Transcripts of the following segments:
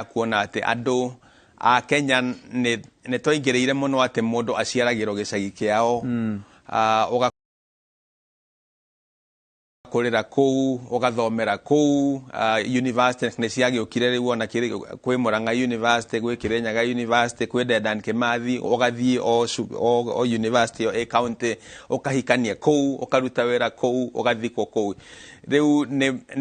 kuona atĩ andũ a Kenya nĩ nĩ twaingĩrĩire mũno atĩ mũndũ aciaragĩrwo gĩcagi kĩao mm. uh, kũrĩra kũu ũgathomera kũu uh, university nĩ ciagĩũkire rĩu ona kwĩ mũrang'a university gwĩ kĩrĩnyaga university kwĩ dendan kĩmathi ũgathiĩ o, o, o university ĩ county ũkahikania kũu ũkaruta wĩra kũu ũgathikwo kũu rĩu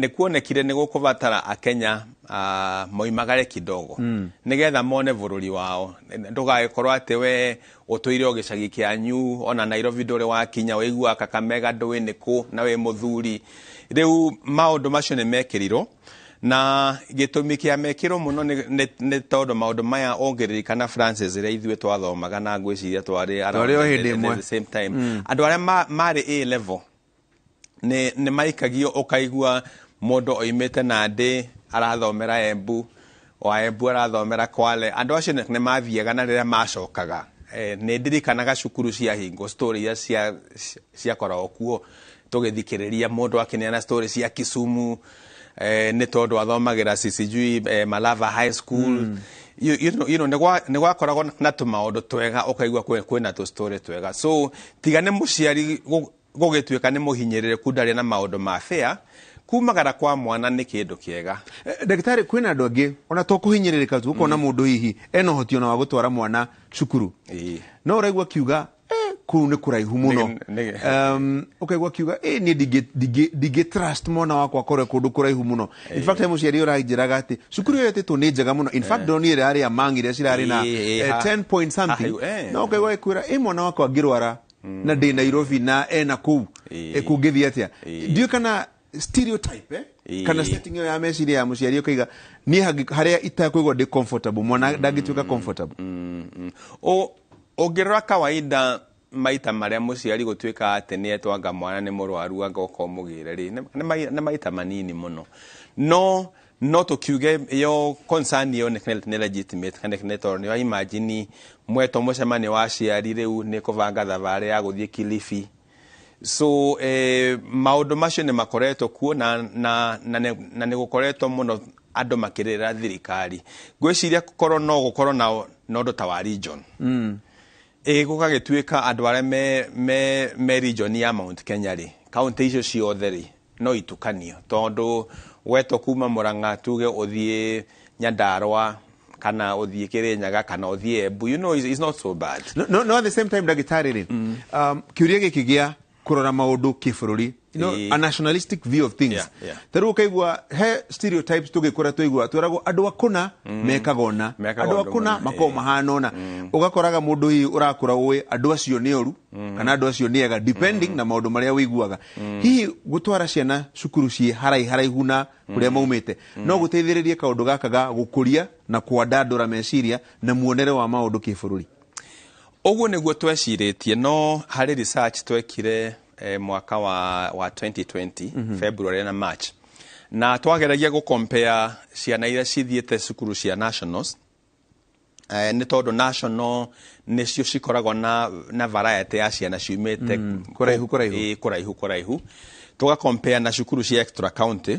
nĩ kuonekire nĩ gũkũbatara akenya Ah, moimagare kidogo mm. nigetha mone bururi wao ndugagĩkorwo atĩ we ũtũire o gĩcagi kĩanyu ona nairobi ndũrĩ wakinya wĩiguaga kakamega ndũĩ nĩ kũ na wĩ mũthuri rĩu maũndũ macio nĩ mekĩrirwo na gĩtũmi kĩa mekĩrwo mũno nĩ- nĩ nĩ tondũ maũndũ maya ũngĩririkana francis rĩa ithuĩ twathomaga na ngwĩciria twarĩ around Twarĩ o hĩndĩ the- the- ĩmwe. the same time andå arä a marä a level nĩ nĩ maikagio ũkaigua mũndũ oimĩte na ndĩ arathomera embu wa embu arathomera kwale andũ acio nĩ nĩ mathiaga na rĩrĩa macokaga eh, nĩ ndirikanaga cukuru cia hingo story iria cia ciakoragwo kuo tũgĩthikĩrĩria mũndũ akĩneana story cia kisumu eh, nĩ tondũ athomagĩra si- sijui eh, malava high school mm. you, you know, you know, nĩ gwa- nĩ gwakoragwo na tũmaũndũ twega ũkaigua kwĩ- kwĩna tũstory twega so tiga nĩ mũciari gũ- Gũgĩtuĩka nĩ mũhinyĩrĩrĩku ndarĩ na maũndũ ma fair, kumagara kwa mwana nĩ kĩndũ kĩega. Ndagĩtarĩ, kwĩna andũ angĩ ona to kũhinyĩrĩrĩka tu, ũkona mũndũ hihi ena ũhoti ona wa gũtwara mwana cukuru, no ũraigua akiuga kũu nĩ kũraihu mũno, ũkaigua akiuga niĩ ndingĩ trust mwana wakwa akore kũndũ kũraihu mũno. In fact he mũciari ũranjĩraga atĩ cukuru ĩyo ĩtĩtwo nĩ njega mũno, in fact ndĩronire ĩrarĩ Among iria cirarĩ na ten point something, no ũkaigua agĩkwĩra ĩ mwana wakwa angĩrwara na ndĩ nairobi na e na kũu Ĩĩ. Eh, kũngĩthiĩ atĩa Ĩĩ. ndiũ kana stereotype eh? Ĩĩ. kana setting ĩyo ya meciria ya mũciari ũkaiga niĩ hangĩ- harĩa itakwĩgwa ndĩ comfortable mwana ndangĩtuĩka comfortable Mm, mm. Ũ- ũngĩrora kawaida maita marĩa mũciari gũtuĩka atĩ nĩ etwanga mwana nĩ mũrwaru anga ũkomũgĩre rĩ nĩ- nĩ mai- nĩ maita manini mũno no no tũkiuge yo concern ĩyo nĩ nĩ legitimate kana nĩ tondũ nĩ wa imagine mwetwo mũcemanio wa aciari rĩu nĩ kũbanga thabarĩ ya gũthiĩ kilifi so eh, maũndũ macio nĩ makoretwo kuo na, na, na, nĩ- na nĩ gũkoretwo mũno andũ makĩrĩra thirikari ngwĩciria korwo no gũkorwo na na ũndũ ta wa region mm. ĩ gũgagĩtuĩka andũ arĩa me, me, me region ya mount kenya rĩ kauntä icio ciothe rĩ No itukanio tondũ wetwo kuma Mũrang'a tuge ũthiĩ Nyandarũa kana ũthiĩ Kĩrĩnyaga kana ũthiĩ Embu you know it's, it's not so bad. No, no, no at the same time ndagĩtarĩ rĩ mm. um, kĩũria gĩkĩ gĩa kurora maundu kibũrũri you know, a nationalistic view of things yeah, yeah. tarä kaigua he stereotypes tå gä kå ra twaigua tweragwo andå akåna mm. mekaga ona andå akåna makorwo mahana ona mm. å gakoraga må ndå hihi å rakå ra å ä andå acio nä oru mm. kana andå acio nä ega depending mm. na maå ndå marä a wä iguaga mm. hihi gũtwara ciana cukuru ciĩ harai haraihu na kũrĩa mm. maumĩte mm. no gũteithĩrĩrie kaũndũ gaka ga gũkũria na kwandandũra meciria na muonere wa maũndũ kĩbũrũri ũguo nĩguo twecirĩtie no harĩ research twekire eh, mwaka wa, wa 2020 mm -hmm. February na March na twageragia gũkompea ciana iria cithiĩte cukuru cia nationals Eh, nĩ tondũ national nĩcio cikoragwo na, na variety ya ciana ciumĩte mm, kũraihu kũraihu eh, kũraihu kũraihu tũga compare na cukuru cia extra county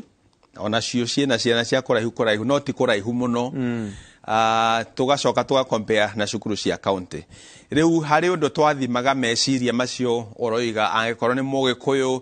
onacio ciĩna ciana cia kũraihu kũraihu no ti kũraihu mũno mm. Uh, ah, tugacoka tugakompea na cukuru cia kaunti riu hari undu twathimaga meciria macio uroiga angikorwo ni mugikuyu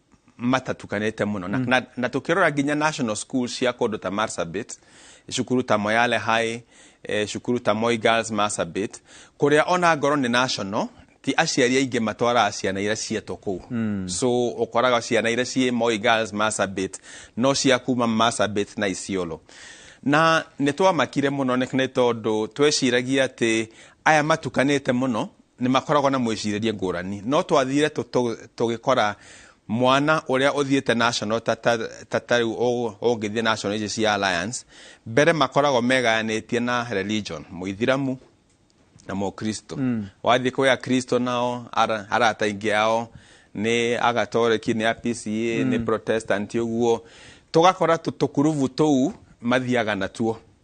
matatukanĩte mũno na, na, na tũkĩrora nginya national school cia kũndũ ta marsabit cukuru ta moyale high eh, cukuru ta moi girls marsabit kũrĩa ona ngoro nĩ national ti aciari aingĩ matwaraga ciana iria cietwo kũu mm. so ũkoraga ciana iria ciĩ moi girls marsabit no cia kuma marsabit na isiolo na nĩ twamakire mũno nĩ nĩ tondũ tweciragia atĩ aya matukanĩte mũno nĩ makoragwo na mwĩcirĩrie ngũrani no twathire tũgĩkora mwana ũrĩa ũthiĩte national ta tarĩu ũngĩthiĩ national ici cia alliance mbere makoragwo megayanĩtie na religion mũithiramu na mũkristo mm. wathiĩ kwĩ akristo nao arata ingĩ ao nĩ agatoreki nĩ apca mm. nĩ protestant ũguo tũgakora tũkurubu tũu mathiaga natuo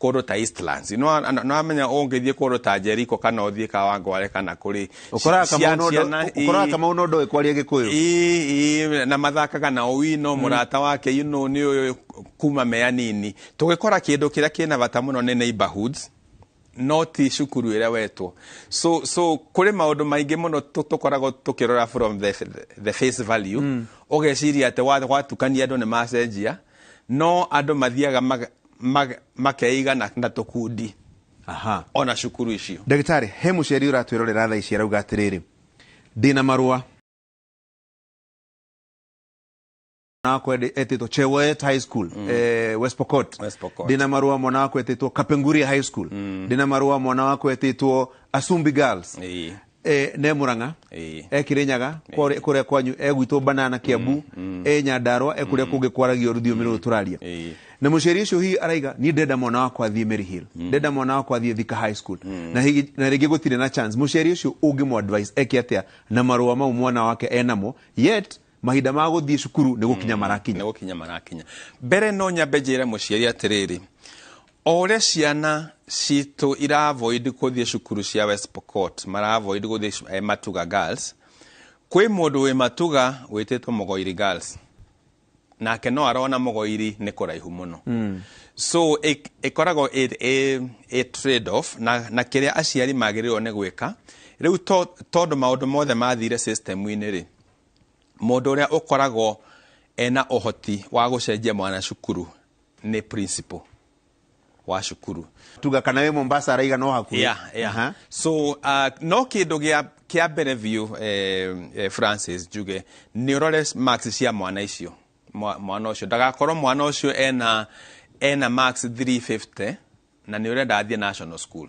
kũndũ ta Eastlands no a- no amenya ũngĩthiĩ kũndũ ta Jericho kana ũthiĩ Kawangware kana kũrĩ ũkoraga ci- kamau ciana- ciana- nondo- ũkoraga ii- kamau nondo kwaria gĩkũyũ ii- ii, na mathakaga na owino mũrata wake you know, nĩ ũyũ kuma me anini tũgĩkora kĩndũ kĩrĩa kĩna bata mũno nĩ neighborhoods no ti cukuru ĩrĩa wetwo so, so kũrĩ maũndũ maingĩ mũno tũ- tũkoragwo tũkĩrora from the, the face value ũgeciria atĩ wa- watukania andũ nĩ macenjia no andũ mathiaga maga- mag- makeigana na tũkundi aha ona cukuru icio ndagĩtarĩ he mũciari ũratwĩrorera thaa ici arauga atĩrĩrĩ ndĩna marũa mwana wakwa endi- etĩtwo chewet high school eh, west pokot West Pokot. ndĩna marũa mwana wakwa etĩtwo kapenguria high school ndĩna marũa mwana wakwa etĩtwo asumbi girls Ĩĩ. e, ne murang'a Ĩĩ. e kirinyaga kore- kuria kwanyu e gwitå banana kiambu e nyandarwa e kuria kungi kwaragio ruthiumi ruru turaria Ĩĩ. na muciari ucio hihi araiga ni ndenda mwana wakwa athie Mary Hill ndenda mwana wakwa athie thika high school na hihi na ringi gutire na chance muciari ucio ungi mu advice eke atia na marua mau mwana wake enamo yet Mahinda ma gũthiĩ cukuru nĩ gũkinya marakinya. nĩ gũkinya marakinya mbere no nyambe njĩre mũciari atĩrĩrĩ o ũrĩa ciana citũ iravoid gũthiĩ cukuru cia west pokot maravoid gũthiĩ cu- eh, matuga girls kwĩ mũndũ wĩ matuga wĩtĩtwo mũgoiri girls nake no arona mũgoiri nĩ kũraihu mũno mm. so ĩ- ĩkoragwo ĩ- ĩ- ĩ trade off na, na kĩrĩa aciari magĩrĩirwo nĩ gwĩka rĩu to- tondũ maũndũ mothe mathire system-inĩ rĩ mũndũ ũrĩa ũkoragwo ena ũhoti wa gũcenjia mwana cukuru nĩ principal wa cukuru tuga kana wĩ mombasa araiga no hakuhĩ yeah, yeah. Aha. so uh, no kĩndũ gĩa kĩa mbere biũ eh, eh, francis njuge nĩ ũrore marks cia mwana icio Mwa- mwana ũcio ndagakorwo mwana ũcio ena ena marks 350 na nĩ ũrenda athiĩ national school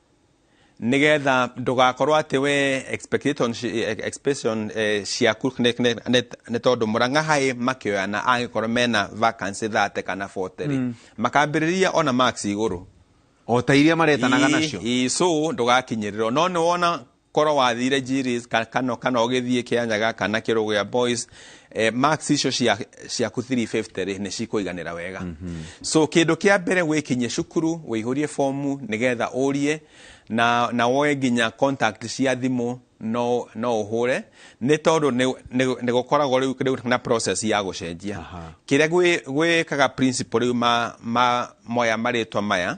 nĩgetha ndũgakorwo atĩ we expectation ci- eh, expectation eh, ciaku nĩ- nĩ- nĩ- nĩ tondũ mũrang'a haĩ makĩoyana angĩkorwo mena vacancy thate kana boterĩ makambĩrĩria ona max igũrũ o ta iria maretanaga Ii- nacio ii, so ndũgakinyĩrĩrwo no nĩ wona korwo wathire Jiris ka- kana kana ũgĩthiĩ kĩanyaga kana kĩrũgĩa boys eh, marks icio cia- ciaku 350 rĩ nĩ cikũiganĩra wega so kĩndũ kĩa mbere wĩkinyie cukuru wĩihũrie fomu nĩgetha ũrie na, na woe nginya contact cia thimũ no, no ũhũre nĩ tondũ nĩ- nĩ nĩ gũkoragwo rĩu rĩu na process ya gũcenjia Aha. kĩrĩa gwĩ- gwĩkaga principal rĩu ma, ma moya marĩtwa maya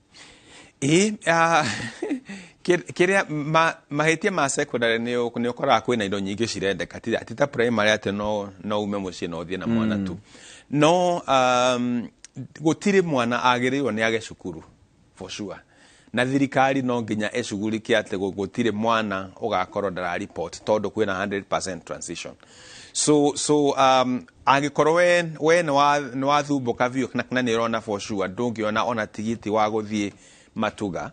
ĩĩ ah, kĩ- kĩrĩa ma- mahĩtia ma secondary nĩ ũ- nĩ ũkoraga kwĩna indo nyingĩ cirendeka ti ti ta primary atĩ no no ume mũciĩ na ũthiĩ na mwana tu no um, gũtirĩ mwana agĩrĩirwo nĩ age cukuru for sure na thirikari no nginya ĩcugurike atĩ gũ- gũtirĩ mwana ũgakorwo ndara report tondũ kwĩna 100% transition so so um, Angĩkorwo we, we nĩ wa, nĩ wathumbũka biũ na, na nĩ ũrona for sure ndũngĩona ona tigiti wa gũthiĩ matuga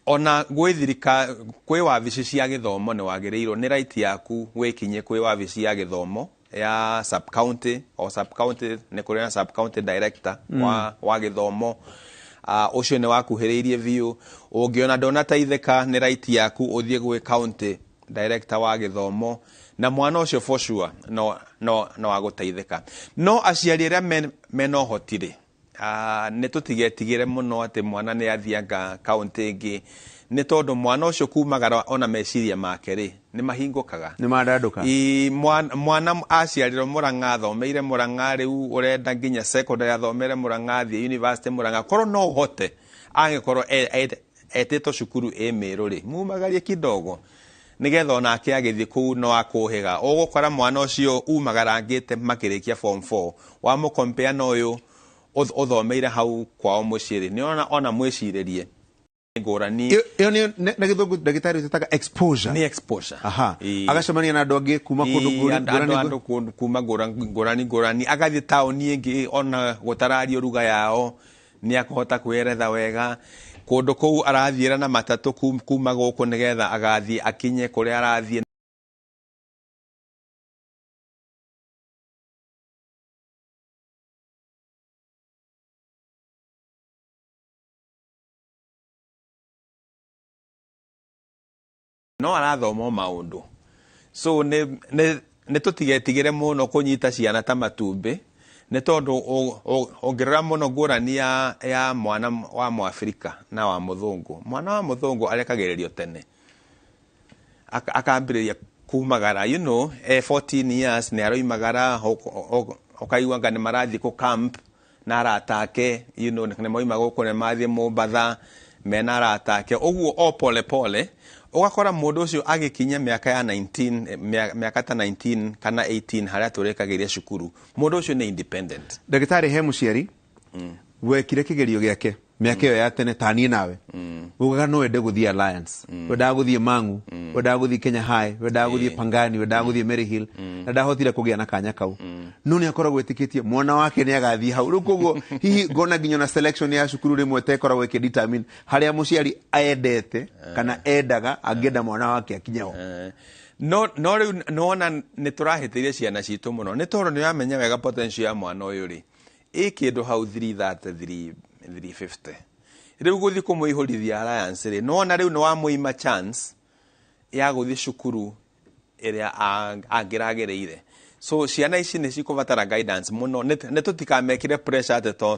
ona gwĩ thirika kwĩ wabici cia gĩthomo nĩ wagĩrĩirwo nĩ right yaku wĩkinye kwĩ wabici ya gĩthomo ya sub county o sub county nĩ kũrĩ na sub county director mm. wa, wa gĩthomo uh, ũcio nĩ wakuhĩrĩirie biũ ũngĩona ndonateithĩka nĩ right yaku ũthiĩ gwĩ county director wa gĩthomo na mwana ũcio for sure no, no, no agũteithĩka no aciari arĩa men- mena ũhoti rĩ ah, nĩ tũtigetigĩre mũno atĩ mwana nĩ athianga kaũntĩ ĩngĩ nĩ tondũ mwana ũcio kumagara ona meciria make rĩ nĩ mahingũkaga nĩ mandandũka I- mwana, mwana aciarirwo mũrang'a athomeire mũrang'a rĩu ũrenda nginya secondary athomere mũrang'a athiĩ university mũrang'a korwo no ũhote angĩkorwo e- e- etĩtwo cukuru ĩ mĩrũ rĩ mumagarie kidogo nĩgetha onake agĩthiĩ kũu no akũhĩga ũgũkora mwana ũcio umagarangĩte makĩrĩkia form 4 wa mũ compare na ũyũ ũth- ũthomeire hau kwao mũciĩ rĩ nĩona ona mwĩcirĩrie nĩ ngũrani Ĩyo- ĩyo nĩyo- na na gĩthũngũ ndagĩtarĩ ũtetaga exposure nĩ exposure aha Ĩĩ. agacemania na andũ angĩ kuma kũndũ Ĩĩ, ngũrani- andũ- ngũrani- andũ kũndũ- kuma ngũra- ngũrani ngũrani agathiĩ taũni ĩngĩ ona gũtarario ruga yao nĩ akũhota kwĩyeretha wega kũndũ kũu arathiĩra na matatũ kum- kuma gũkũ nĩgetha agathiĩ akinye kũrĩa arathiĩ no arathoma o maũndũ so nĩ nĩ- nĩ tũtigetigĩre mũno kũnyita ciana ta matumbĩ nĩ tondũ ũ- ũ- ũngĩrora mũno ngũrani ya, ya mwana wa mwafrika na wa mũthũngũ mwana wa mũthũngũ arekagĩrĩrio tene Aka- akambĩrĩria kumagara you know, eh, 14 years nĩ aroimagara ũk- ũk- ũkaigua nga nĩ marathiĩ kũ camp na arata ake you know, nĩ moima gũkũ nĩ mathiĩ mũmbatha me na arata ake ũguo o pole pole ũgakora mũndũ ũcio agĩkinya mĩaka ya 19 eh, mĩa- mĩaka ta 19 kana 18 harĩa tũrĩkagĩria cukuru mũndũ ũcio nĩ independent ndagĩtarĩ he mũciari wekire kĩgerio gĩake mĩaka ĩyo ya tene taniĩ nawe ugaga no wende gũthiĩ alliance wendaga gũthiĩ mangu wendaga gũthiĩ kenya high wendaga gũthiĩ Ĩĩ. pangani wendaga gũthiĩ mary hill na ndahotire kũgĩa na kanya kau no nĩ akoragwo etĩkĩtie mwana wake nĩ agathiĩ hau rĩu koguo hihi ngona nginya na selection ya cukuru rĩmwe tekoragwo ĩkĩdetermine harĩa mũciari endete kana endaga angĩenda mwana wake akinye ho Eh, no no rĩu nĩwona nĩ tũrahĩtĩirie ciana citũ mũno nĩ tondũ nĩũramenya wega potential ya mwana ũyũ rĩ ĩ kĩndũ hau 333 350 rĩu gũthiĩ kũmũihũrithia alliance rĩ nĩwona rĩu nĩwamũima chance ya gũthiĩ cukuru ĩrĩa a- angĩragereire so ciana ici nĩ cikũbatara guidance mũno nĩ tũtikamekĩre pressure atĩ to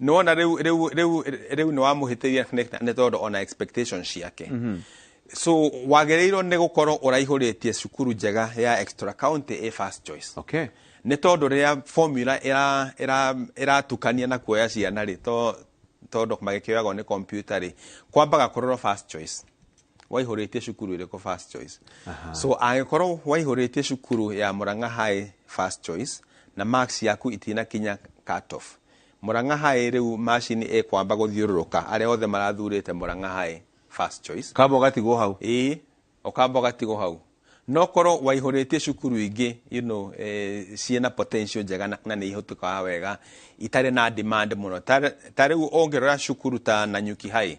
nĩwona rĩu rĩu rĩu rĩu nĩ wamũhĩtĩria nĩ nĩ tondũ ona expectation ciake so wagĩrĩirwo nĩ gũkorwo ũraihũrĩtie cukuru njega ya extra county ĩ first choice okay nĩ tondũ rĩrĩa formula ĩra- ĩra- ĩratukania na kuoya ciana rĩ to- tondũ magĩkĩoyagwo nĩ kompiuta rĩ kwambaga kũrorwo first choice waihũrĩtie cukuru ĩrĩkũ first choice so angĩkorwo waihũrĩtie cukuru ya mũrang'a high first choice na marks yaku itinakinya cut off Murang'a High rĩu macini ĩkwamba gũthiũrũrũka arĩa othe marathurĩte Murang'a High first choice. Ũkamba ũgatigwo hau. Ĩĩ, ũkamba ũgatigwo hau. No korwo waihũrĩtie cukuru ingĩ you know ciĩna potential njega na nĩ ihũtĩkaga wega, itarĩ na demand mũno. Ta rĩu ũngĩrora cukuru ta Nanyuki High,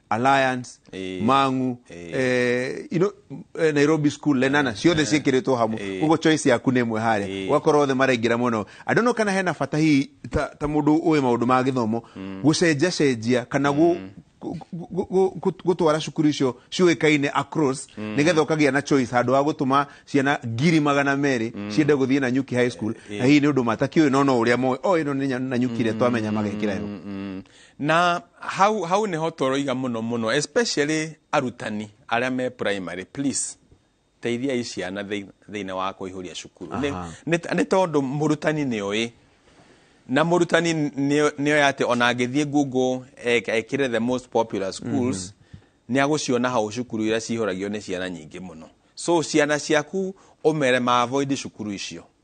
alliance Eh. mangu Eh. eh, you know, eh, nairobi school lenana ciothe ciĩkĩrĩtwo hamwe Eh. koguo choice yaku nĩ ĩmwe harĩa Eh. ũgakorwo othe maraingĩra mũno andũ no kana hena bata hihi ta, ta mũndũ ũĩ maũndũ ma gĩthomo gũcenjacenjia kana gũ- gũ- gũ- gũ- gũ- gũtwara cukuru icio ciũĩkaine across nĩgetha ũkagĩa na choice handũ wa gũtũma ciana ngiri magana merĩ ciende gũthiĩ na nyuki high school na hihi nĩ ũndũ matakĩũĩ no no ũrĩa moĩ o ĩno nĩ nya- na nyuki ĩrĩa twamenya magekĩra yo Mm. na hau hau niho toroiga muno muno especially arutani aria me primary please teithiai ciana thĩ- thĩinĩ wa kũihũria cukuru Nĩ- Aha. nĩ- nĩ tondũ mũrutani nĩ ũĩ na mũrutani nĩ nĩ oĩ atĩ ona angĩthiĩ google ek- ekĩre the most popular schools nĩ agũciona hau cukuru iria cihũragio nĩ ciana nyingĩ mũno so ciana ciaku ũmere ma avoid cukuru icio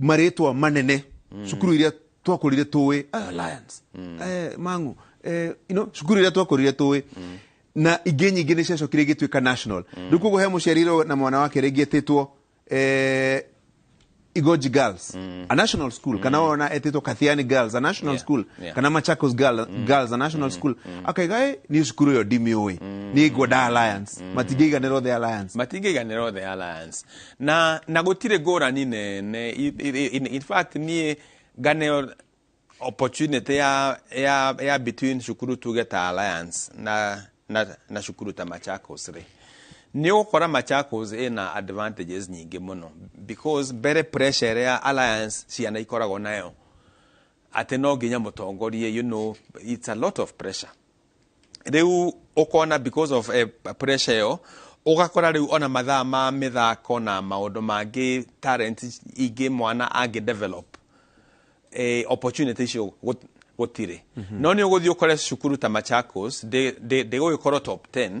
marĩtwa manene mm. cukuru iria twakũrire tũĩ ah, alliance mm. eh, mangu eh, you know, cukuru iria twakũrire tũĩ mm. na ingĩ nyingĩ nĩ ciacokire igĩtuĩka national mm. rĩu koguo he mũciarirwo na mwana wake rĩngĩ etĩtwo eh, igoji girls mm. a national school mm. kana ona etĩtwo kathiani girls a national yeah. school yeah. kana machakos girl, mm. girls a national mm. school mm. akaiga e nĩ cukuru ĩyo ndimiũĩ mm. nĩ ngwenda alliance mm. matingĩiganĩrwo the alliance matingĩiganĩrwo the alliance na na gũtirĩ ngũrani nene I- i- in, in fact niĩ ngane opportunity ya, ya, ya between cukuru tuge ta alliance na, na, na cukuru ta machakos rĩ nĩ ũgũkora machakos ĩna advantages nyingĩ mũno because mbere pressure ĩrĩa alliance ciana ikoragwo nayo atĩ no nginya mũtongorie you know, it's a lot of pressure rĩu ũkona because of eh, pressure ĩyo ũgakora rĩu ona mathaa ma mĩthako na maũndũ mangĩ talent ingĩ mwana angĩ develop eh, opportunity icio gũ- gũtirĩ no nĩ ũgũthiĩ ũkore cukuru ta machakos ndĩgũgĩkorwo top 10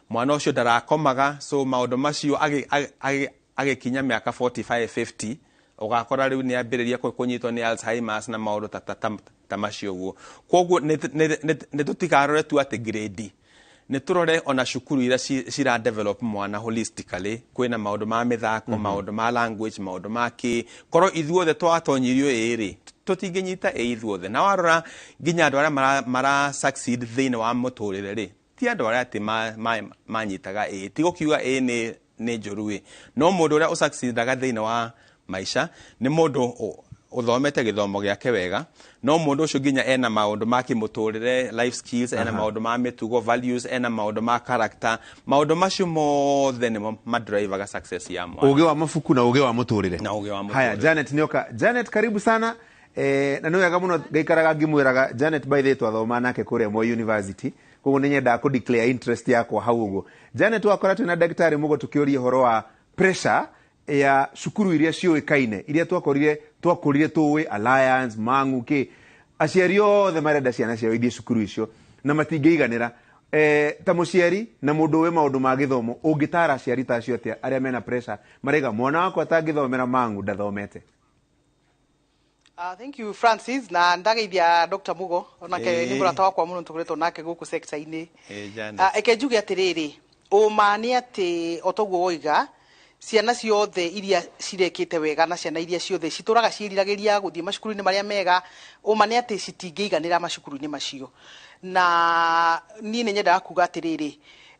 mwana ũcio ndarakomaga so maũndũ macio agĩ- agĩ- agĩ- agĩkinya mĩaka 45 50 ũgakora rĩu nĩ ambĩrĩria kũ- kũnyitwo nĩ alzheimers na maũndũ ta, ta, ta, ta macio ũguo kwoguo nĩ tũtigarore tu atĩ grade nĩ tũrore ona cukuru iria ci- cira develop mwana holistically kwĩna maũndũ ma mĩthako maũndũ ma language maũndũ ma kĩ korwo ithuothe twatonyirio ĩrĩ tũtingĩnyita ĩ ithuothe na warora nginya andũ arĩa mara, mara succeed thĩinĩ wa mũtũrĩre rĩ ti andũ arĩa atĩ ma- ma- manyitaga ĩĩ ti gũkiuga ĩĩ nĩ nĩ njũru ĩ no mũndũ ũrĩa ũsacidaga thĩinĩ wa maica nĩ mũndũ ũ- ũthomete gĩthomo gĩake wega no mũndũ ũcio nginya ena maũndũ ma kĩmũtũrĩre life skills ena maũndũ ma mĩtugo values ena maũndũ ma character maũndũ macio mothe nĩmo madrivaga success ya mwana ũgĩ wa mabuku na ũgĩ wa mũtũrĩre Na ũgĩ wa mũtũrĩre. haya janet nioka janet karibu sana Eh, na nä wega må no ngaikaraga ngimwä raga janet by the twathoma nake kå rä a moi university koguo nä nyendaga kå declare interest yakwa hau å guo janet wakora twä na ndagĩtarĩ må go tå kä å ria å horo wa pressure ya cukuru iria ciå kaine iria twakorire twakũrire tũĩ alliance mang'u kä aciari othe marenda ciana ciao ithiä cukuru icio na matingĩiganĩra eh, ta mũciari na mũndũ ũĩ maũndũ ma gĩthomo ũngĩtara aciari ta acio atĩa arĩa mena pressure maraiga mwana wakwa atangĩthomera mang'u ndathomete Uh, thank you Francis na ndageithia Dr Mugo onake Ĩĩ. nĩ mũrata wakwa mũno tũkoretwo nake gũkũ sector-inĩ Eh, Janice. Ah, eke njuge atĩrĩrĩ ũma nĩ atĩ o toguo woiga ciana ciothe iria cirekĩte wega na ciana iria ciothe citũraga ciĩriragĩria gũthiĩ macukuru-inĩ marĩa mega ũma nĩ atĩ citingĩiganĩra macukuru-inĩ macio na niĩ nĩ nyendaga kuga atĩrĩrĩ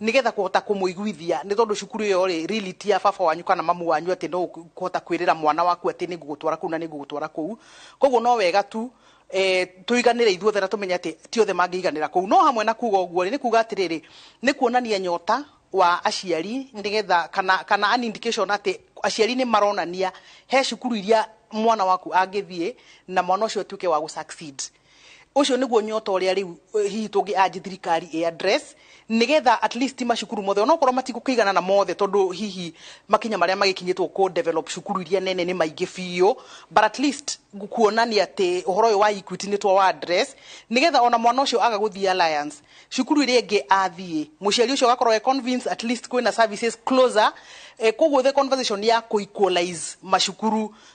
nĩ getha kũhota kũmũiguithia nĩ tondũ cukuru ĩyo rĩ really ti ya baba wanyu kana mamu wanyu atĩ no kũhota kwĩrĩra mwana waku atĩ nĩ ngũgũtwara kũu na nĩ ngũgũtwara kũu koguo no wega tu eh, tũiganĩre ithuothe na tũmenye atĩ ti othe mangĩiganĩra kũu no hamwe na kuga ũguo rĩ nĩ kuga atĩrĩrĩ nĩ kuonania nyota wa aciari nĩ getha kana, kana an indication atĩ aciari nĩ maronania he cukuru iria mwana waku angĩthiĩ na mwana ũcio atuĩke wa gũ succeed Ũcio nĩguo nyota ũrĩa rĩu eh, hihi tũngĩ anji thirikari ĩ address nĩgetha at least macukuru mothe onokorwo matigũkĩigana na mothe tondũ hihi makinya marĩa magĩkinyĩtwo kũ develop cukuru iria nene nĩ maingĩ biũ but at least kuonania atĩ ũhoro ũyũ wa Equity nĩ twa wa address nĩgetha ona mwana ũcio aga gũthiĩ alliance cukuru ĩrĩa ĩngĩ athiĩ mũciari ũcio agakorwo e convince at least kwĩna services closer eh, koguo the conversation ya kũ equalize macukuru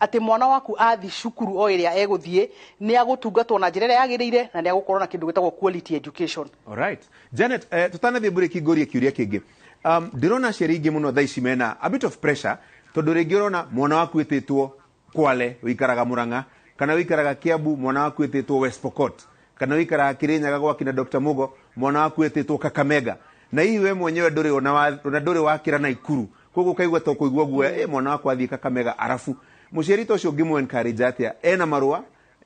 atĩ mwana waku athiĩ cukuru o ĩrĩa egũthiĩ nĩ agũtungatwo na njĩra ĩrĩa yagĩrĩire na nĩ agũkorwo na kĩndũ gĩtagwo quality education. Alright. Janet, eh, tũtanathiĩ mburĩki ngũrie kĩũria kĩngĩ um, ndĩrona aciari aingĩ mũno thaa ici mena a bit of pressure tondũ rĩngĩ ũrona mwana waku ĩtĩtwo kwale ũikaraga mũrang'a kana ũikaraga kiambu mwana waku ĩtĩtwo west pokot kana ũikaraga kĩrĩnyaga gwa kina dr mugo mwana waku etĩtwo kakamega na hihi we mwenyewe ndũrĩ ona wa- ona ndũrĩ wakĩra na ikuru koguo ũkaigua ta ũkũigua guoya ĩ mwana wakwa athiĩ kakamega arabu mũciari ta ũcio ngĩmũ encourage atĩa ena marũa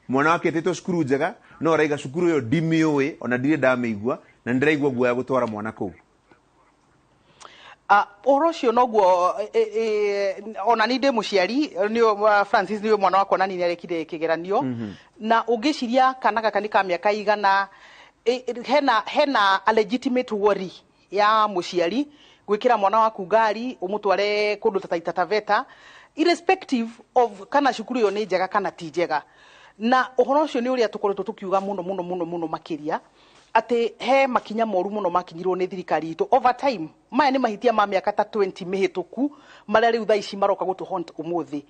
mwana wake etĩtwo cukuru njega no araiga cukuru ĩyo ndimĩũĩ ona ndirĩ ndamĩigua na nĩndĩraigua guoya gũtwara mwana kũu Ah, ũhoro ũcio noguo eh, eh, eh, ona ni ndĩ mũciari nĩ uh, francis nĩ mwana wakwa na nini arekire kĩgeranio na ũngĩciria kana gaka nĩ ka mĩaka igana eh, eh, hena hena a legitimate worry ya mũciari gwĩkĩra mwana waku ngari ũmũtware kũndũ ta taita taveta irrespective of kana cukuru ĩyo nĩ njega kana ti njega na ũhoro ũcio nĩ ũrĩa tũkoretwo tũkiuga mũno mũno mũno mũno makĩria atĩ he makinya moru mũno makinyirwo nĩ thirikari itũ over time maya nĩ mahĩtia ma mĩaka ta 20 mĩhĩtũku marĩa rĩu thaa ici maroka gũtũ haunt ũmũthĩ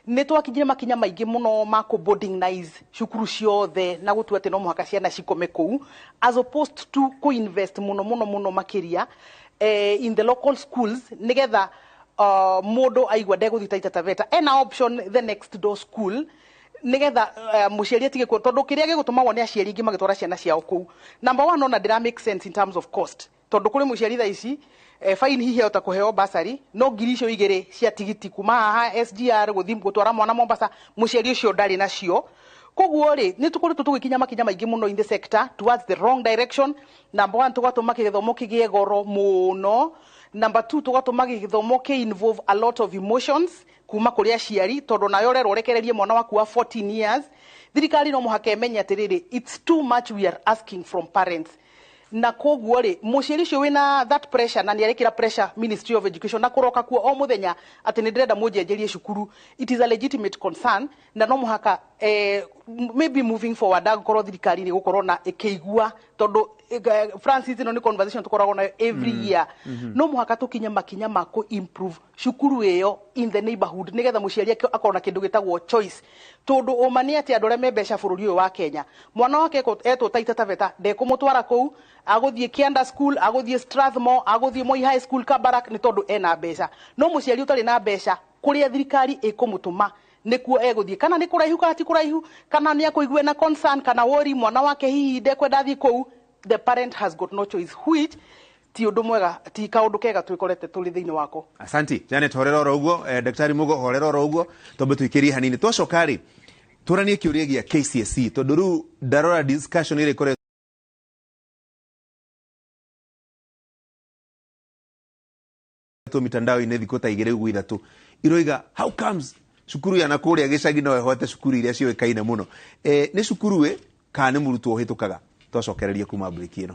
nĩ twakinyire makinya maingĩ mũno ma kũ boardingize cukuru ciothe na gũtua atĩ no mũhaka ciana cikome kũu as opposed to kũ invest mũno mũno mũno makĩria eh, in the local schools nĩgetha uh, mũndũ aigua ndegũthiĩ Taita Taveta ena option the next door school nigetha uh, muciari atige kuo tondu kiria gigutuma wone aciari ingi magitwara ciana ciao kuu number one ona ndira make sense in terms of cost tondu kuri muciari tha ici eh, fine hihi ahota kuheo basari no ngiri icio igiri cia tigiti kuma haha sgr guthi gutwara mwana mombasa muciari ucio ndari nacio koguo ri ni tukoretwo tugikinya makinya maingi muno in the sector towards the wrong direction number one tugatuma githomo kigie goro muno number two tugatuma githomo ki involve a lot of emotions kuma kũrĩ aciari tondũ nawe ũrerwo ũrekererie mwana waku wa 14 years thirikari no mũhaka ĩmenye atĩrĩrĩ it's too much we are asking from parents na koguo rĩ mũciari ũcio wĩna that pressure na nĩarekĩra pressure ministry of education na kũroka kuo o mũthenya atĩ nĩndĩrenda mũnjenjerie cukuru it is a legitimate concern na no mũhaka eh, m- maybe moving forward ndangĩkorwo thirikari nĩ gũkorwo na ĩkĩigua tondũ eh, francis ĩno nĩ conversation tũkoragwo nayo every Mm, year mhm. no mũhaka tũkinye makinya ma kũ improve cukuru ĩyo in the neighborhood nĩgetha mũciari ake akorwo na kĩndũ gĩtagwo choice tondũ ũma nĩ atĩ andũ arĩa me mbeca bũrũri ũyũ wa kenya mwana wake ekũ- etwo taita taveta ndekũmũtwara kũu agũthiĩ kianda school agũthiĩ strathmore agũthiĩ moi high school kabarak nĩ tondũ ena mbeca no mũciari ũtarĩ na mbeca kũrĩa thirikari ĩkũmũtũma nĩkuo egũthiĩ kana nĩ kũraihu kana ti kũraihu kana nĩ akũigue na concern kana wori mwana wake hihi ndekwenda athiĩ kũu the parent has got no choice which ti ũndũ mwega ti kaũndũ kega twĩkorete tũrĩ thĩinĩ wako asanti janet horera oro uguo eh, daktari mugo horera oro uguo twambe tuikirie hanini twacoka ri turanie kiuria gia kcse tondu riu ndarora discussion iri kore ĩkoretwo mitandao-inĩ thikũ ta igĩrĩ ũguo ithatũ iroiga how comes cukuru ya nakũrĩa gĩcagi no ĩhote cukuru iria ciũĩkaine mũno e, nĩ cukuru ĩ kana nĩ mũrutwo ũhĩtũkaga twacokererie kuma mbrĩki ĩno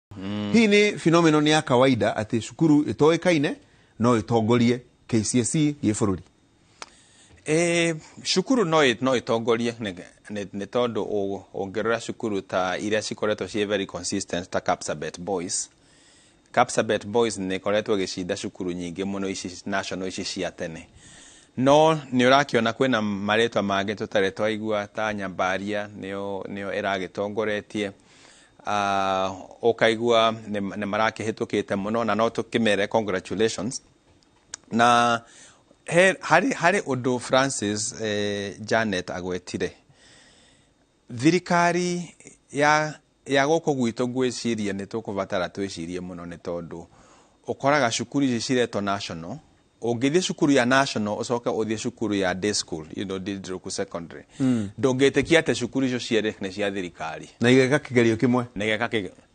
mm. hii ni phenomenon ya kawaida atä cukuru ä toä kaine no ä tongorie kcse gä bå rå ri E, cukuru no ĩ- no itongorie nĩ nĩ- nĩ tondũ ũ- ũngĩrora cukuru ta iria cikoretwo ciĩ very consistent ta Kapsabet Boys Kapsabet Boys nĩ ĩkoretwo ĩgĩcinda cukuru nyingĩ mũno ici national ici cia tene no nĩ ũrakĩona kwĩna marĩtwa mangĩ tũtarĩ twaigua ta Nyambaria nĩyo nĩyo ĩragĩtongoretie Uh, ukaigua nĩ marakĩhĩtũkĩte mũno na no tũkĩmere congratulations na he, harĩ, harĩ ũndũ francis eh, janet agwetire thirikari ya ya gũkũ gwitũ ngwĩciria nĩ tũkũbatara twĩcirie mũno nĩ tondũ ũkoraga cukuru ici ciretwo national ũngĩthiĩ cukuru ya national ũcoke ũthiĩ cukuru ya day school you know Didruku secondary mm. ndũngĩtĩkia atĩ cukuru icio cierĩ nĩ cia thirikari na igeka kĩgerio kĩmwe na igeka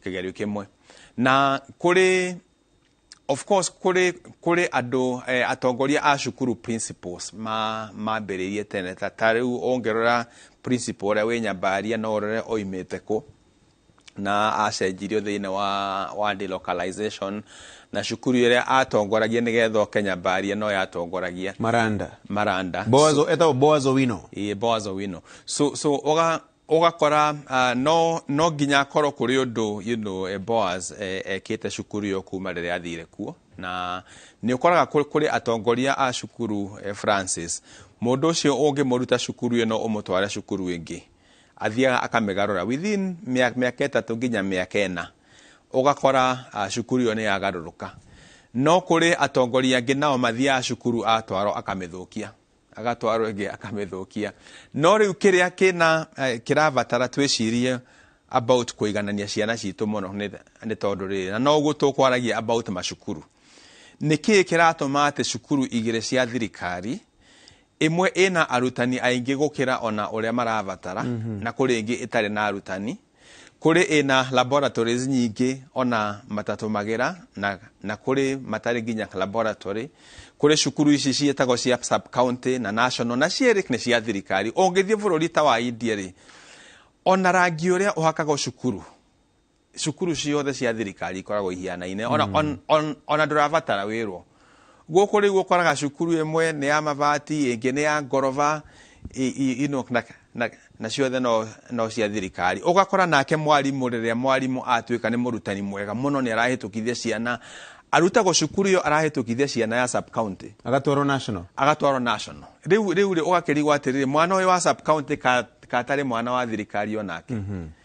kĩgerio kĩmwe na kũrĩ of course kũrĩ kũrĩ andũ eh, atongoria a cukuru principles ma mambĩrĩirie tene ta ta rĩu ũngĩrora principle ũrĩa wĩ nyambaria no ũrore oimĩte kũ na acenjirio thĩinĩ wa, wa delocalization na cukuru ĩrĩa atongoragia nĩgetha oke nyambaria no yatongoragia maranda maranda boazo etagwo boazo wino Ĩĩ, Boaz Owino. So, so ũga- ũgakora uh, no, no nginya akorwo kũrĩ ũndũ you know, eh, Boaz eh, ekĩte cukuru ĩyo kuma rĩrĩa athire kuo na nĩ ũkoraga kũ- kũrĩ atongoria a cukuru eh, Francis mũndũ ũcio ũngĩmũruta cukuru ĩno ũmũtware cukuru ĩngĩ athiaga akamĩgarũra within mĩa- mĩaka ĩtatũ nginya mĩaka ĩna ũgakora ah, cukuru ĩyo nĩ yagarũrũka no kũrĩ atongoria angĩ nao mathiaga cukuru atwarwo akamĩthũkia agatwarwo ĩngĩ akamĩthũkia no rĩu kĩrĩa kĩna eh, kĩrabatara twĩcirie about kũiganania ciana citũ mũno nĩ nĩ tondũ rĩrĩ na no ũguo tũkwaragia about macukuru nĩ kĩĩ kĩratũma atĩ cukuru igĩrĩ cia thirikari Ĩmwe ĩna arutani aingĩ gũkĩra o na ũrĩa marabatara na kũrĩ ĩngĩ ĩtarĩ na arutani. Kũrĩ ĩna laboratories nyingĩ o na matatũmagĩra na na kũrĩ matarĩ nginya laboratory. Kũrĩ cukuru ici ciĩtagwo cia sub-county na national na cierĩ nĩ cia thirikari. Ũngĩthiĩ bũrũri ta wa India-rĩ, o na rangi ũrĩa ũhakagwo cukuru, cukuru ciothe cia thirikari ikoragwo ihianaine ona mm. on, on, ona ndũrabatara wĩrwo gũkũ rĩu ũkoraga cukuru ĩmwe nĩ ya mabati ĩngĩ nĩ ya ngoroba na ciothe no, no cia thirikari ũgakora nake mwarimũ rĩrĩa mwarimũ atuĩka nĩ mũrutani mwega mũno nĩ arahĩtũkithia ciana arutagwo cukuru ĩyo arahĩtũkithia ciana ya sub county agatwarwo national agatwarwo national rĩu rĩu rĩ ũgakĩrigwo atĩrĩrĩ mwana ũyũ wa sub county katarĩ mwana wa thirikari onake mm -hmm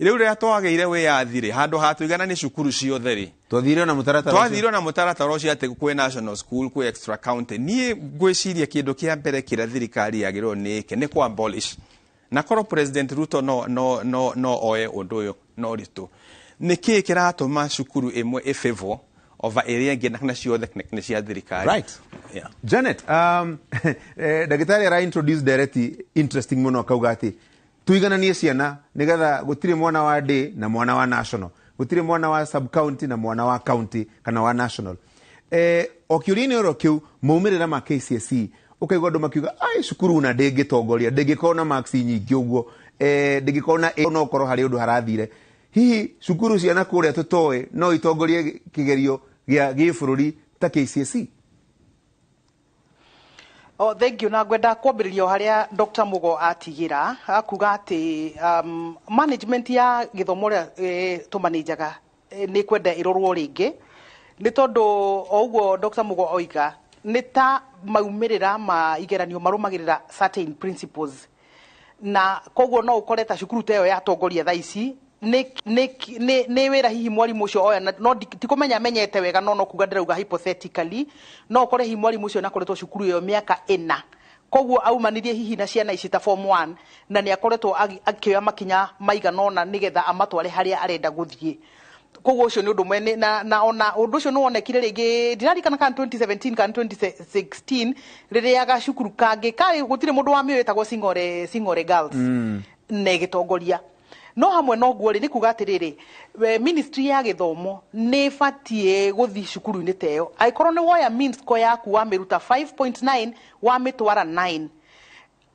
rĩu rĩrĩa twagĩire wĩyathi-rĩ handũ ha tũigana nĩ cukuru ciothe-rĩ twathire na mũtaratara ũcio. twathire na mũtaratara ũcio atĩ kwĩ national school kwĩ extra county niĩ ngwĩciria kĩndũ kĩa mbere kĩrĩa thirikari yagĩrĩirwo nĩ ĩke nĩ kwa abolish na korwo president ruto no, no, no, no oe ũndũ ũyũ na ũritũ nĩ kĩĩ kĩratũma cukuru ĩmwe ĩ favor over ĩrĩa ĩngĩ na kana ciothe nĩ- nĩ cia thirikari Right. Yeah. janet um, eh, ndagĩtarĩ ara introduce ndereti interesting mũno akauga atĩ Tuigananie ciana nĩgetha gũtirĩ mwana wa day na mwana wa national. Gũtirĩ mwana wa sub county na mwana wa county kana wa national. Eh, o kĩũria-inĩ oro kĩu maumĩrĩra ma KCSE ũkaigua andũ makiuga ai cukuru una ndĩngĩtongoria ndĩngĩkorwo na marks nyingĩ ũguo eh, ndĩngĩkorwo na A no ũkorwo harĩ ũndũ harathire hihi cukuru ciana kũrĩa tũtoĩ no itongorie kĩgerio gĩa gĩbũrũri ta KCSE Oh, thank you na ngwenda kwambĩrĩria o harĩa Dr. Mugo atigĩra akuga atĩ um, management ya gĩthomo rĩa eh, tũmanĩjaga eh, nĩ kwenda ĩrorwo rĩngĩ nĩ tondũ o ũguo Dr. Mugo oiga nĩ ta maumĩrĩra ma igeranio marũmagĩrĩra certain principles Na koguo no ũkore ta cukuru ta ĩyo ya Tongoria thaa ici nĩ nĩ nĩ nĩ wĩra hihi mwarimũ ũcio oya na no ndi- tikũmenya amenyete wega no no kuga ndĩrauga hypothetically no ũkore hihi mwarimũ ũcio nakoretwo cukuru ĩyo mĩaka ĩna koguo aumanirie hihi na ciana ici ta form 1 na nĩ akoretwo agi- akĩoya makinya maigana ũna nĩgetha amatware harĩa arenda gũthiĩ koguo ũcio nĩ ũndũ ũmwe Nĩ- na, na ona ũndũ ũcio nĩ wonekire rĩngĩ ndirarikana kana 2017 kana 2016 rĩrĩa gacukuru kangĩ karĩ gũtirĩ mũndũ wa mĩo ĩtagwo singore singore girls mm. na ĩgĩtongoria no hamwe noguo rĩ nĩ kuga atĩrĩrĩ we- ministry ya gĩthomo nĩ ĩbatiĩ gũthiĩ cukuru-inĩ ta ĩyo angĩkorwo nĩ woya minsco yaku wamĩruta 5.9 wamĩtwara 9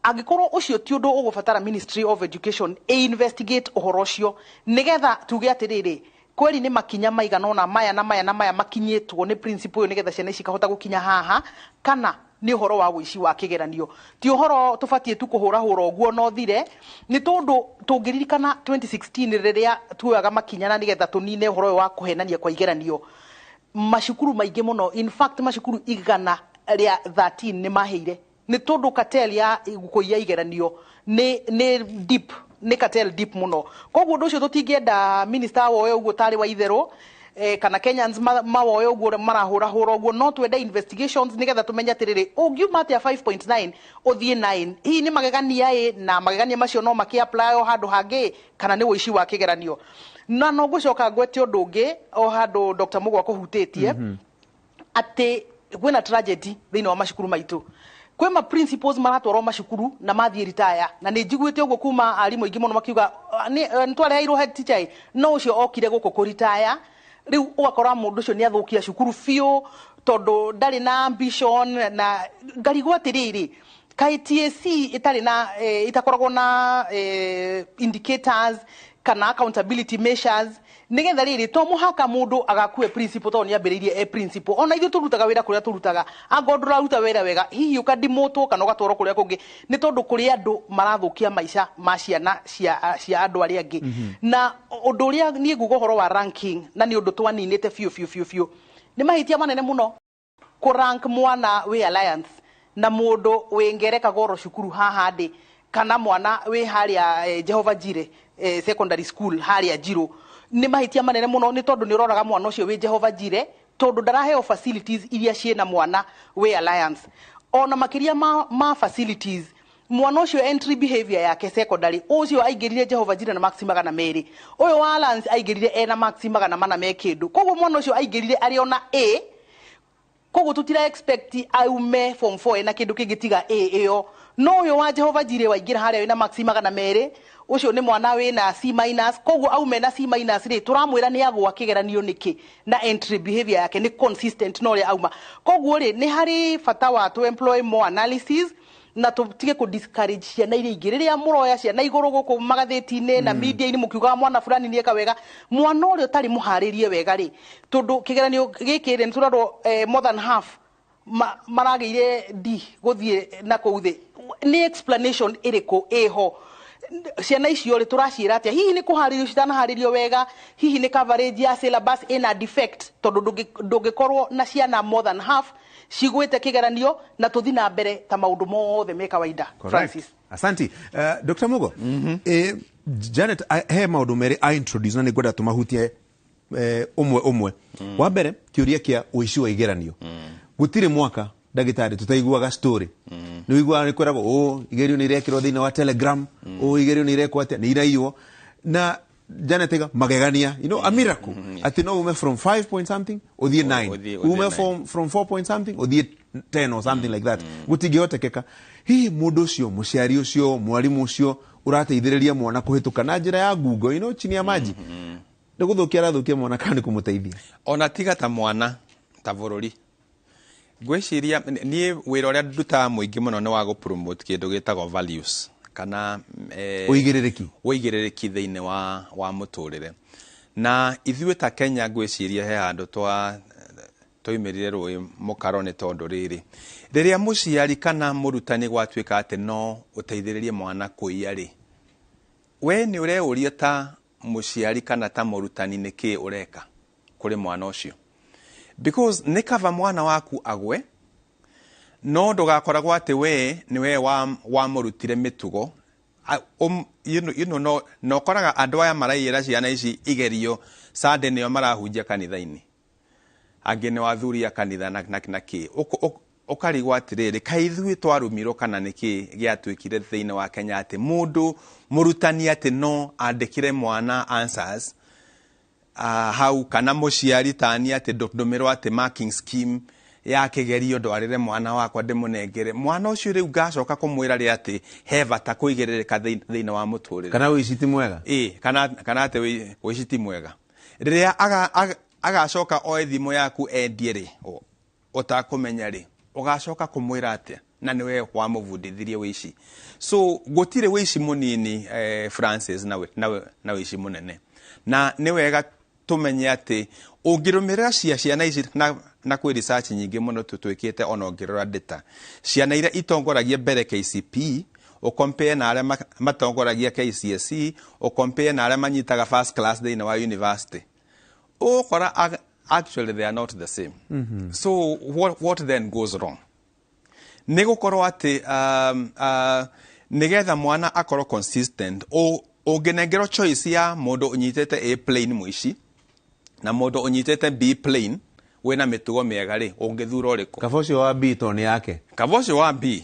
Angĩkorwo ũcio ti ũndũ ũgũbatara Ministry of Education ĩ investigate ũhoro ũcio nĩgetha tuge atĩrĩrĩ, kweri nĩ makinya maigana ũna maya na maya na maya makinyĩtwo nĩ principal ũyũ nĩgetha ciana ici ikahota gũkinya haha, kana nĩ ũhoro wa ũici wa kĩgeranio. Ti ũhoro tũbatiĩ tu kũhũrahũra ũguo na ũthire, nĩ tondũ tũngĩririkana 2016 rĩrĩa tuoyaga makinya na nĩgetha tũnine ũhoro ũyũ wa kũhenania kwa igeranio, macukuru maingĩ mũno, in fact macukuru igana rĩa thirteen nĩ maheire Nĩ tondũ cartel ya kũiya igeranio nĩ nĩ deep, nĩ cartel deep mũno. Kwoguo ũndũ ũcio tũtingĩenda minister awoye ũguo ta arĩ wa itherũ, kana Kenyans mawoye ũguo marahũra hũra ũguo. No twende investigations nĩgetha tũmenye atĩrĩrĩ, ũngiuma atĩa five point nine ũthiĩ nine? Hihi nĩ magegania ĩ, na magegania macio no makĩ apply o handũ hangĩ ĩ, kana nĩ ũici wa kĩgeranio? Na no ngũcoka ngwete ũndũ ũngĩ o handũ Doctor Mũgo akũhutĩtie, atĩ kwĩ na tragedy thĩinĩ wa macukuru maitũ kwĩ ma principals maratwarwo macukuru na mathiĩ ritaya na nĩ njiguĩte ũguo kuma arimũ aingĩ mũno makiuga "Ah, nĩ- eh, nĩ twareheirwo head teacher ĩ no ũcio okire gũkũ kũritaya rĩu ũgakora mũndũ ũcio nĩ athũkia cukuru biũ tondũ ndarĩ na ambition na ngarigwo atĩrĩrĩ kaĩ TSC ĩtarĩ na eh, itakoragwo na eh, indicators kana accountability measures nigetha riri to muhaka mundu agakue principal tondu niambiriirie e principal ona ithu turutaga wira kuria turutaga anga undu uraruta wira wega hihi ukadimutwo kana ugatwarwo kuria kungi ni tondu kuri andu marathukia maica ma ciana cia cia andu aria angi na undu uria nie nguga uhoro wa ranking na ni undu twaniinite biu biu biu biu ni mahitia manene muno kũ rank mwana wĩ alliance na mũndũ wĩ ngereka goro cukuru haha ndĩ kana mwana wĩ harĩa eh, jehova jire eh, secondary school harĩa njirũ nĩ mahĩtia manene mũno nĩ tondũ nĩ ũroraga mwana ũcio wĩ jehova jire tondũ ndaraheo facilities iria ciĩ na mwana wĩ alliance ona makĩria ma, ma facilities Mwana ũcio entry behavior yake secondary ũcio aingĩrire Jehovah Jireh na marks magana merĩ. Ũyũ wa Alliance aingĩrire ena marks magana mana me kĩndũ. Kwoguo mwana ũcio aingĩrire arĩ ona A, kwoguo tũtira expect aume form four ena kĩndũ kĩngĩ tiga A ĩyo. No ũyũ wa Jehovah Jireh waingĩra harĩa wĩna marks magana merĩ, ũcio nĩ mwana wĩna C minus, kwoguo auma ena C minus rĩ, tũramwĩra nĩ agũa kĩgeranio nĩkĩ? Na entry behavior yake nĩ consistent na ũrĩa auma. Kwoguo rĩ, nĩ harĩ bata wa tũ employ more analysis. na tutige ku discourage ciana iria ingĩ rĩrĩa mũroya ciana igũrũ gũkũ magathĩti-inĩ na media-inĩ mũkiugaga mwana fulani nĩ eka wega mwana ũrĩa ũtarĩ mũharĩrie wega rĩ tondũ kĩgeranio gĩkĩ rĩ nĩ tũrarwo eh, more than half ma- maragĩire d gũthiĩ na kũu thĩ nĩ explanation ĩrĩkũ ĩho ciana icio rĩ tũraciĩra atĩa hihi nĩ kũharĩrio citanaharĩrio wega hihi nĩ coverage ya syllabus ĩna defect tondũ ndũngĩ- ndũngĩkorwo na ciana more than half cigwĩte kĩgeranio na tũthi na mbere ta maũndũ mothe me kawaida Francis. asanti uh, eh, dr mugo mm -hmm. eh, janet eh, he maũndũ merĩ a introduce na nĩ ngwenda tũmahutie eh, ũmwe ũmwe mm. wa mbere kĩũria kĩa ũici wa igeranio mm. gũtirĩ mwaka ndagĩtarĩ tũtaiguaga story mm. nĩ wiguaga nĩ kwĩragwo ũ igerio nĩ irekĩrwo thĩinĩ wa telegram mm. ũ igerio nĩ irekwo atĩa nĩ iraiywo na janetega magegania you know a miracle ati no ume from 5 point something uthie 9 uthie- uthie ume nine. from from 4 point something uthie 10 or something like that gutingihotekeka hihi mundu ucio muciari ucio mwarimu ucio urateithiriria mwana kuhituka na njira ya ngungo you know chini ya maji nä gå thå kia arathå kia mwana kana nä kå må teithia ona tiga ta mwana ta bå rå ri Ngwĩciria niĩ wĩra ũrĩa ndutaga mũingĩ mũno nĩ wa gũ-promote kĩndũ gĩtagwo values kana eh, Ũigĩrĩrĩki. ũigĩrĩrĩki thĩinĩ wa, wa mũtũrĩre na ithuĩ ta kenya ngwĩciria he handũ twa twaimĩrire rũĩ mũkaro nĩ tondũ rĩrĩ rĩrĩa mũciari kana mũrutani gwatuĩka atĩ no ũteithĩrĩrie mwana kũiya rĩ we nĩ ũreũria ta mũciari kana ta mũrutani nĩ kĩĩ ũreka kũrĩ mwana ũcio because nĩ kaba mwana waku agwe no ndũgakoragwo atĩ wee nĩ wee wa- wamũrutire mĩtugo A- ũm- you know- you know, no- na ũkoraga andũ aya maraigĩra ciana ici igerio sande nĩo marahunjia kanitha-inĩ angĩ nĩo athuri a kanitha na, na, na kĩ Ũk- ũk- ũkarigwo atĩrĩrĩ ka ithuĩ twarumirwo kana nĩ kĩ gĩatuĩkire thĩinĩ wa kenya atĩ mũndũ mũrutani atĩ no andĩkĩre mwana answers uh, hau kana mũciari tani atĩ ndũ- ndũmĩrwo atĩ marking scheme ya kĩgerio ndwarĩre mwana wakwa ndĩmũnengere mwana ũcio rĩu ngacoka kũmwĩra rĩ atĩ he bata kũigĩrĩrĩka thĩin- thĩinĩ wa mũtũrĩre kana ũici ti mwega ĩ kana, kana atĩ wĩ- ũici ti mwega rĩrĩa aga- aga- agacoka oe thimũ yaku endie rĩ ũ- ũtakũmenya rĩ ũgacoka kũmwĩra atĩa na nĩ wee wamũbundithirie wĩici so gũtirĩ wĩici mũnini eh, francis na, wĩ- na, wĩ- na wĩici mũnene na nĩ wega tũmenye atĩ ũngĩrũmĩrĩra cia ciana ici na, na kwĩ research nyingĩ mũno tũ- twĩkĩte ona ũngĩrora data ciana iria itongoragia mbere kcp ũkompĩe na arĩa matongoragia KCSE, ũkompĩe na arĩa manyitaga first class thĩinĩ wa university, ũgũkora actually they are not the same. Mm -hmm. So what, what then goes wrong? Nĩ gũkorwo atĩ um, uh, nĩgetha mwana akorwo consistent ũngĩnengerwo choice ya mũndũ ũnyitĩte A plane mũici na mũndũ ũnyitĩte B plane wĩna mĩtugo mĩega rĩ ũngĩthura ũrĩkũ kaba ũcio wa B to nĩ yake kaba ũcio wa B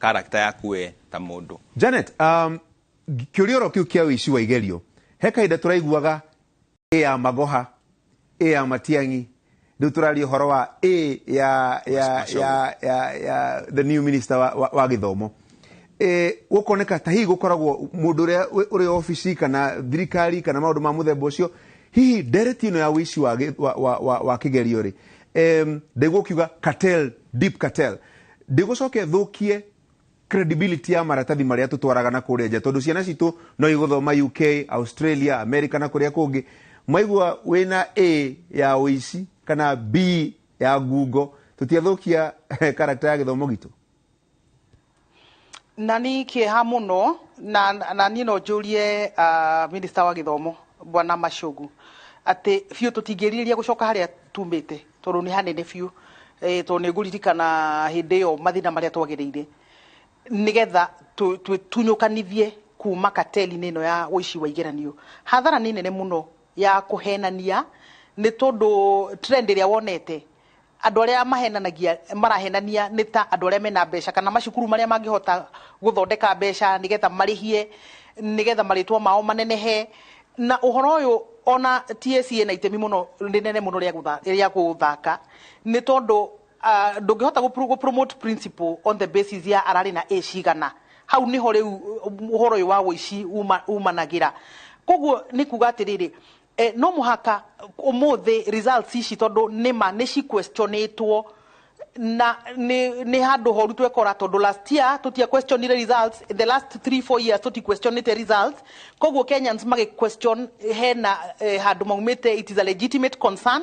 Character yaku we ta mũndũ. Janet, um, kĩũria oro kĩu kĩa ũici wa igerio he kahinda tũraiguaga ĩ ya magoha ĩ ya matiang'i rĩu tũraria ũhoro wa ĩ ya, ya, Macogo. ya, ya, ya the new minister wa, wa, wa gĩthomo Eh, gũkoneka ta hihi gũkoragwo mũndũ ũrĩa wĩ- ũrĩ obici kana thirikari kana maũndũ ma mũthemba ũcio hihi ndereti ĩno ya ũici wa, gĩ- wa, wa, wa, wa kĩgerio rĩ em, ndaigua ũkiuga cartel, deep cartel Ndĩgũcoka ĩthũkie credibility ya maratathi marĩa tũtwaraga na kũrĩa nja tondũ ciana citũ no igũthoma UK, Australia, America na kũrĩa kũngĩ. Mwaigua wĩna A ya ũici kana B ya ngungo tũtiathũkia character ya gĩthomo gitũ? Na nĩ kĩeha mũno na, na niĩ no njũrie uh, minista wa gĩthomo bwana Machogu atĩ biũ tũtingĩrirĩria gũcoka harĩa tumĩte tondũ nĩ hanene biũ eh, tondũ nĩ ngũririkana hĩndĩ ĩyo mathĩna marĩa twagereire nĩgetha tũ- tũ- tunyũkanithie kuma kateli-inĩ ĩno ya ũici wa igeranio hathara nĩ nene mũno ya kũhenania nĩ tondũ trend ĩrĩa wonete andũ arĩa mahenanagia marahenania nĩ ta andũ arĩa mena mbeca kana macukuru marĩa mangĩhota gũthondeka mbeca nĩgetha marĩhie nĩgetha marĩtwa mao manenehe Na ũhoro ũyũ ona TSC ĩna itemi mũno rĩnene mũno rĩa gũtha- rĩa gũthaka nĩ tondũ ah, ndũngĩhota gũ- gũ promote principle on the basis ya ararĩ na A cigana hau nĩho rĩu uh, ũhoro ũyũ wa ũici uma- umanagĩra koguo nĩ kuga atĩrĩrĩ eh, no mũhaka ũmũthĩ results ici tondũ nĩma nĩ ciquestionĩtwo na nä nä handå horu twekora tondå last year tå tia questionire results the last 3 4 years tå ti questionite results koguo kenyans magä question hena eh, handå maumä te it is a legitimate concern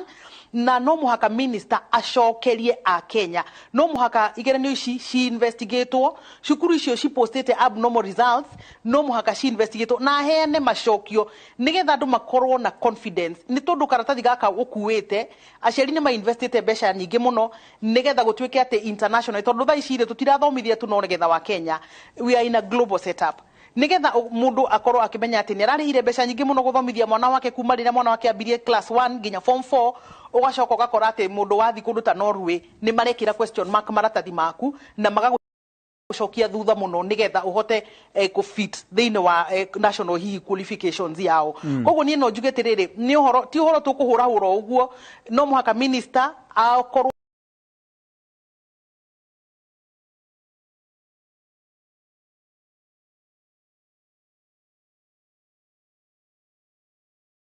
na no mũhaka minister acokerie a kenya no mũhaka igeranio ici ciinvestigatwo cukuru icio cipostĩte abnormal results no mũhaka ciinvestigatwo na heane macokio nĩgetha andũ makorwo na confidence nĩ tondũ karatathi gaka ũkuĩte Aciari nĩ ma investĩte mbeca nyingĩ mũno nĩgetha gũtuĩke atĩ international tondũ thaa ici rĩ tũtirathomithia tu ngetha wa Kenya, we are in a global set up. Nĩgetha mũndũ akorwo akĩmenya atĩ nĩ ararĩhire mbeca nyingĩ mũno gũthomithia mwana wake kuma rĩrĩa mwana wake ambirie class one nginya form four, ũgacoka ũgakora atĩ mũndũ wathiĩ kũndũ ta Norway nĩ marekĩra question mark maratathi maku na magagũ. gucokia thutha muno nigetha uhote eh, ku fit thiini wa eh, national hihi qualifications yao mm. koguo nie no njuge tiriri ni uhoro ti uhoro tukuhura hura uguo no muhaka minister akorwo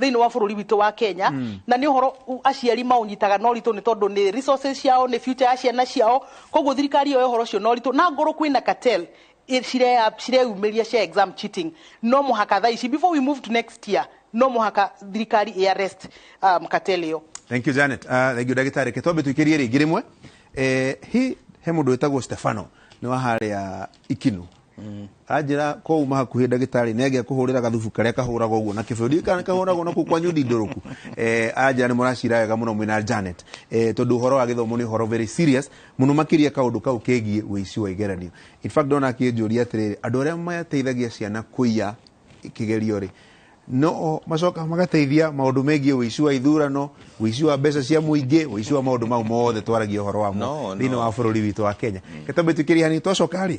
thĩinĩ wa bũrũri witũ wa Kenya mm. na nĩ ũhoro aciari maũnyitaga no ritũ nĩ tondũ nĩ resources ciao nĩ future ya ciana ciao koguo thirikari ĩyo ũhoro ũcio no ritũ na ngoro kwĩna cartel cireyumĩria cia exam cheating no mũhaka thaa ici before we move to next year no mũhaka thirikari ĩ arrest um, cartel ĩyo thank you Janet uh, thank you ndagĩtarĩ ke twambe tũikĩrie rĩngĩ rĩmwe eh, hi he mũndũ wĩtagwo Stefano nĩ wa harĩa ikinu anjĩra ko uma hakuhĩ ndagĩtarĩ nĩ angĩa kũhũrĩra gathubu karĩa kahũraga ũguo na kĩbeo ndiũĩ kana kahũragwo na kũu kwanyu ndindũrũku eh, anjĩra nĩ mũracira wega mũno mwĩna Janet eh, tondũ ũhoro wa gĩthomo nĩ ũhoro very serious mũno makĩria kaũndũ kau kegiĩ wĩici wa igeranio in fact ndona akĩnjũria atĩrĩrĩ andũ arĩa mateithagia ciana kũiya kĩgerio rĩ no macoka magateithia maũndũ megiĩ wĩici wa ithurano wĩici wa mbeca cia mũingĩ wĩici wa maũndũ mau mothe twaragia ũhoro wamo No, no. thĩinĩ wa bũrũri witũ wa kenya gatabatĩkĩria hanini twacoka rĩ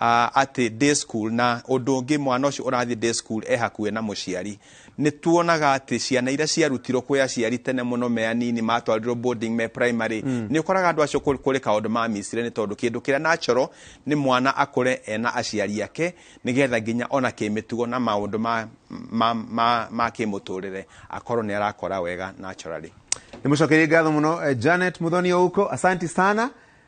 ah, atĩ day school na ũndũ ũngĩ mwana ũcio ũrathiĩ day school e hakuhĩ na mũciari nĩ tuonaga atĩ ciana iria ciarutirwo kwĩ aciari tene mũno me anini matwarirwo boarding me primary nĩ ũkoraga andũ acio kũ- kũrĩ kaũndũ mamicire nĩ tondũ kĩndũ kĩrĩa natural nĩ mwana akũre ena aciari ake nĩgetha nginya ona kĩmĩtugo na maũndũ ma, ma, ma, ma kĩmũtũrĩre akorwo nĩ arakora wega naturally nä må cokerie ngatho må no janet må thoni å uko asanti sana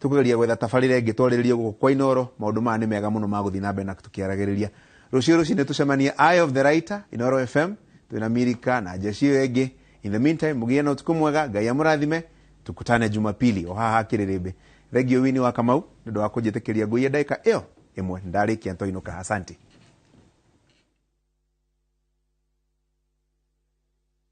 Tũkũgeria gwetha tabarĩra ĩngĩ twarĩrĩrie gũkũ kwa Inooro, maũndũ maya nĩ mega mũno ma gũthiĩ na mbere na tũkĩaragĩrĩria. Rũciũ rũcinĩ tũcemanie Eye of the Writer, Inooro FM, twĩ na Mirika na Jesse ĩyo ĩngĩ. In the meantime, mũgĩe na ũtukũ mwega, Ngai amũrathime, tukutane Jumapili o haha Kĩrĩrĩmbĩ. Thengio Winnie wa Kamau nĩ ũndũ wa kũnjĩtĩkĩria ngũie ndagĩka ĩyo ĩmwe. Nĩ ndarĩkia ntoinũka. Asanti.